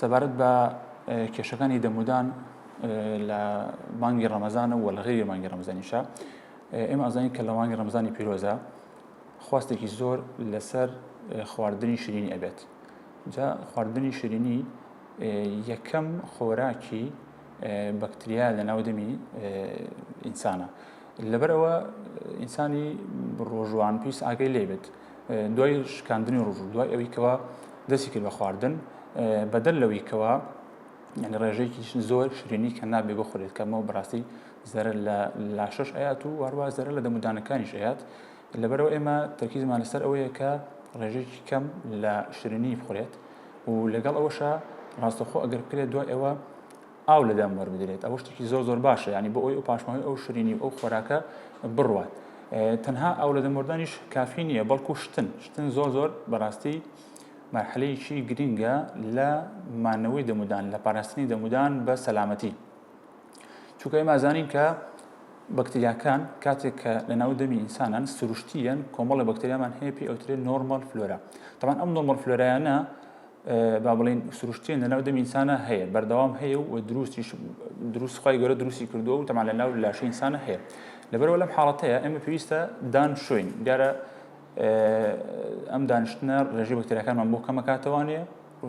سەبارەت بە کێشەکانی دەمودان لە مانگی ڕەمەزانە و لە غێری مانگی ڕەمزانیشە ئێمە ئازانی کە لە مانگی ڕەمزانی پیرۆزە خواستێکی زۆر لەسەر خواردنی شیرینی ئەبێت جا خواردنی شیرینی یەکەم خۆراکی بەکتریا لە ناو دەمی ئینسانە لەبەرەوە ئینسانی ڕۆژوان پێویست ئاگەی لێبێت دوای شکاندنی ڕژ و دوای ئەوی کەەوە دەستی کرد بە خواردن بەدەر لەوەی کەەوە ینی ڕێژەیەکی زۆر شرێنی کە نابێ بۆ خورێت کەمەوە بڕاستی زەرە لە لاشەش ئەیات و وارووا زەرە لە دەمودانەکانیش ئەیات لەبەرەوە ئێمە تەکیزمان لەسەر ئەوەیە کە ڕێژێکی کەم لە شرێنی بخورێت و لەگەڵ ئەوەشە ڕاستەخۆ ئەگەر کرێت دوای ئەوە ئاو لە دەم وەربگرێت ئەوە شتێکی زۆر زۆر باشە ینی بۆ ئەوی ئەو پاشماوەی ئەو شرینی و ئەو خۆراکە بڕوات تەنها ئەو لە دەمردانیش کافی نییە بەڵکو شتن شتن زۆر زۆر بەڕاستی مەرحەلەیەکی گرنگە لە مانەوەی دەمودان لە پاراستنی دەمودان بە سەلامەتی چونکە ئێمە زانین کە بەکتریاکان کاتێک کە لە ناو دەمی ئینسانان سروشتیان کۆمەڵی بەکتریامان هەیە پێ ئەوترێ نۆرمال فلۆرا تەمان ئەم نۆمەڵ فلۆرایانە با بڵین سروشتێن لەناو دەم ئینسانە هەیە بەردەوام هەیە و دروستیش دروست خی گەورە دروستی کردووە و تەمان لە ناو لاشە ئینسانە هەیە لەبەرەوە لەم حاڵەتەیە ئەمە پێویستە دان شوین دیارە ئەم دانیشتنە ڕێژی بەکتەرەکانمان بۆ کەمەکاتەوانێ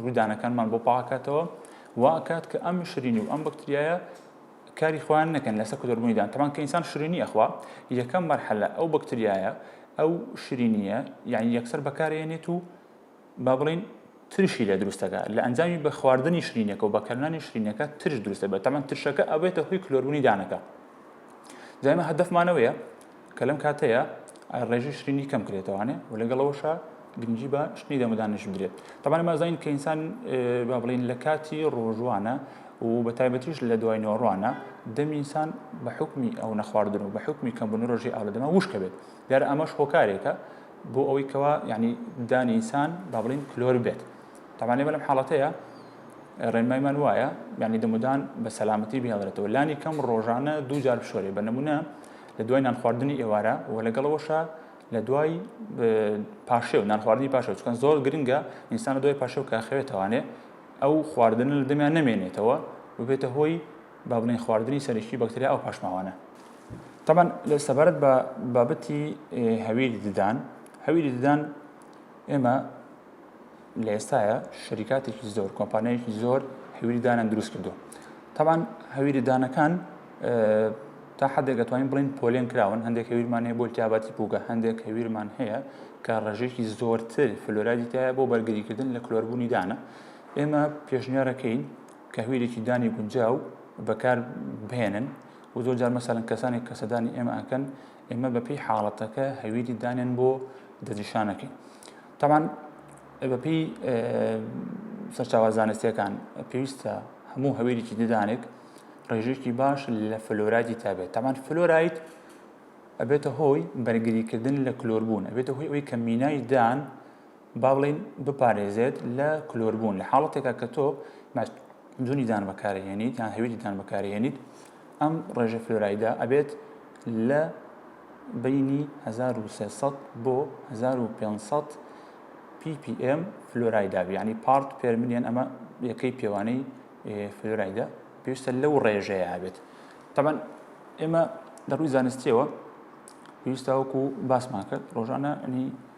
ڕوودانەکانمان بۆ پاکاتەوە واکات کە ئەم شرینی و ئەم بەکتریایە کاری خوان نەکەن لەسە کودربوونیدان تەمان کە ئینسان شرینی ئەخوا یەکەم مەرحەلە ئەو بەکتریایە ئەو شرینیە یعنی یەکسەر بەکارێنێت و با بڵێین ترشی لێ دروست دەکات لە ئەنجامی بە خواردنی شرینەکە و بەکارنانی شرینەکە ترش دروست دەبێت تەمان ترشەکە ئەبێتە هۆی کلۆربوونی دانەکە جایمە هەدەفمانەوەیە کە لەم کاتەیە ڕێژی شرینی کەم کرێتەوانێ و لەگەڵەوەشە گرنگی بە شتنی دەمەدانش بدرێت تەبان مازین کە ئینسان با بڵین لە کاتی ڕۆژوانە و بە تایبەتیش لە دوای نۆڕوانە دەمینسان بە حکمی ئەو نەخواردن و بە حکمی کەمبوون ڕۆژی ئاودەما وشکە بێت دیار ئەمەش هۆکارێکە بۆ ئەوەی کەوا یعنی دانی ئینسان با بڵین کلۆر بێت تاوانێ بەلم حاڵەتەیە ڕێنمایمان وایە یعنی دەمودان بە سەلامەتی بهێڵێتەوە لانی کەم ڕۆژانە دووجار بشۆرێ بە نمونە لە دوای نانخواردنی ئێوارە و لەگەڵەوەشە لە دوای پاشێ و نانخواردنی پاشە چکەن زۆر گرنگە ئینسان دوای پاشە و کاخەوێتوانێ ئەو خواردن لە دەمیان نمێنێتەوە ببێتە هۆی با بڵێن خواردنی سەرشتی بەکتریا ئەو پاشماوانە تەبەن لە سەبارەت بە بابەتی هەویری ددان هەویری ددان ئێمە لە ئێستاە شریکاتێکی زۆر کۆمپانیایکی زۆر هەویری دانان دروست کردو تەبان هەویری دانەکان تا حدێک دەتوانین بڵین پۆلێن کراون هەندێک هەویرمان هەیە بۆ تیابەتی پوگە هەندێک هەویرمان هەیە کە ڕژێکی زۆرتر فلۆرادی تایە بۆ بەرگریکردن لە کلۆربوونی دانە ئێمە پێشنیارەکەین کهویلێکی دانی گونجاو بەکار بهێنن و زۆر جار مەسەلەن کەسانێک کە سەردانی ئێمە ئەکەن ئێمە بەپی حاڵەتەکە هەویری دانێن بۆ دەجیشانەکەی تاوان بەپی سەرچاوە زانستیەکان پێویستە هەموو هەویرێکی ددانێک ڕێژێکی باش لە فلۆرایتی تابێت تامان فلۆرایت ئەبێتە هۆی بەرگریکردن لە کلۆربوون ئەبێتە هۆی ئەوی کە مینای دان با بڵێین بپارێزێت لە کلۆربوون لە حاڵەتێکا کە تۆ جونی دان بەکارهێنیت یان هەویدی دان بەکارهێنیت ئەم ڕێژە فلۆرایدا ئەبێت لە بینی 1300 بۆ 1500 PPM فلۆرایدا بیانی پارت پێرمنیان ئەمە یەکەی پێوانەی فلۆرایدا پێویستە لەو ڕێژەیە هەبێت تەبەن ئێمە دەڕووی زانستیەوە پێویستاوەکو باسمان کرد ڕۆژانە ئەنی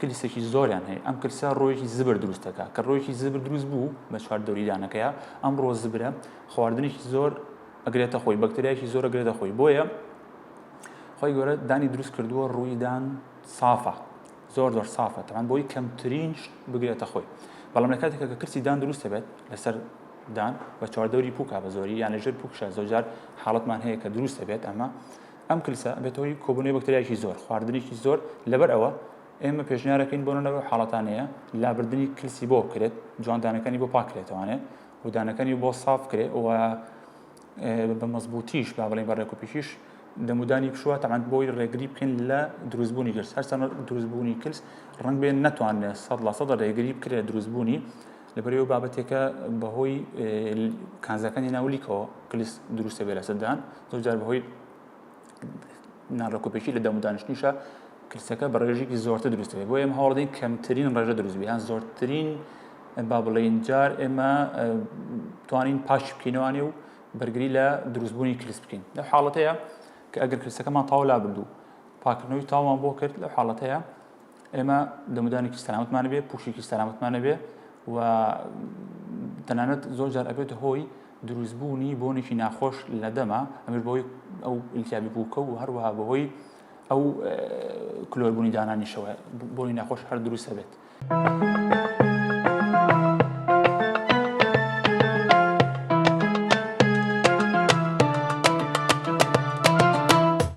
کلسێکی زۆریان هەیە ئەم کلسە ڕۆیەکی زبر دروست دەکات کە ڕۆیەکی زبر دروست بوو بە چوار دەوریدانەکەیە ئەم ڕۆ زبرە خواردنێکی زۆر ئەگرێتە خۆی بەکتریایکی زۆر گرێتە خۆی بۆیە خۆی گەورە دانی دروست کردووە ڕوویدان سافە زۆر زۆر سافە تەمان بۆی کەمترین بگرێتە خۆی بەڵام لە کاتێکە کە کەسی دان دروست دەبێت لەسەر دان بە چواردەوری پوکا بە زۆری یان لەژێر پوکشە زۆجار حاڵەتمان هەیە کە دروست دەبێت ئەمە ئەم کلسە ئەبێتە هۆی کۆبوونەوەی بەکتریایەکی زۆر، خواردنێکی زۆر، لەبەر ئەوە ئێمە پێشنیارەکەین بۆ نەنەوەی حاڵەتانەیە لابردنی کلسی بۆ بکرێت جوان دانەکانی بۆ پاکرێتوانێ و دانەکانی بۆ ساف کرێ و بە مەزبوتیش با بڵین بە ڕێکوپیشیش دەمودانی پشوە تەعاند بۆی ڕێگری بکەین لە دروستبوونی گرس هەرسان دروستبوونی کلس ڕنگ بێن ناتوانێت سەد لە سەدە ڕێگری بکرێت دروستبوونی لەبەرئەوەی ئەو بابەتێکە بەهۆی کانزاکانی ناو لیکەوە کلیس دروستە بێ لەسەدان زۆرجار بەهۆی ناڕکۆپێکی لە دەمودانشتنیشە کلسەکە بە ڕێژێکی زۆرتە دروستێ بۆ ئێمە هەوڵدەین کەمترین ڕێژە دروست بیان زۆرترین با بڵێین جار ئێمە توانین پاش بکەینەوانێ و بەرگری لە دروستبوونی کلیس بکەین لە حاڵەتەیە کە ئەگەر کلسەکەمان تاولا بردو پاکردنەوەی تاوان بۆ کرد لە حاڵەتەیە ئێمە دەمودانێکی سەلامتمان بێ پوشێکی سەلامتمان بێ و تەنانەت زۆر جار ئەبێت هۆی دروستبوونی بۆنێکی ناخۆش لە دەما ئەمر بۆی ئەو ئیلتیابی بووکە و هەروەها بەهۆی ئەو کلۆربوونی دانانیشەوە بۆی ناخۆش هەر دروستە بێت.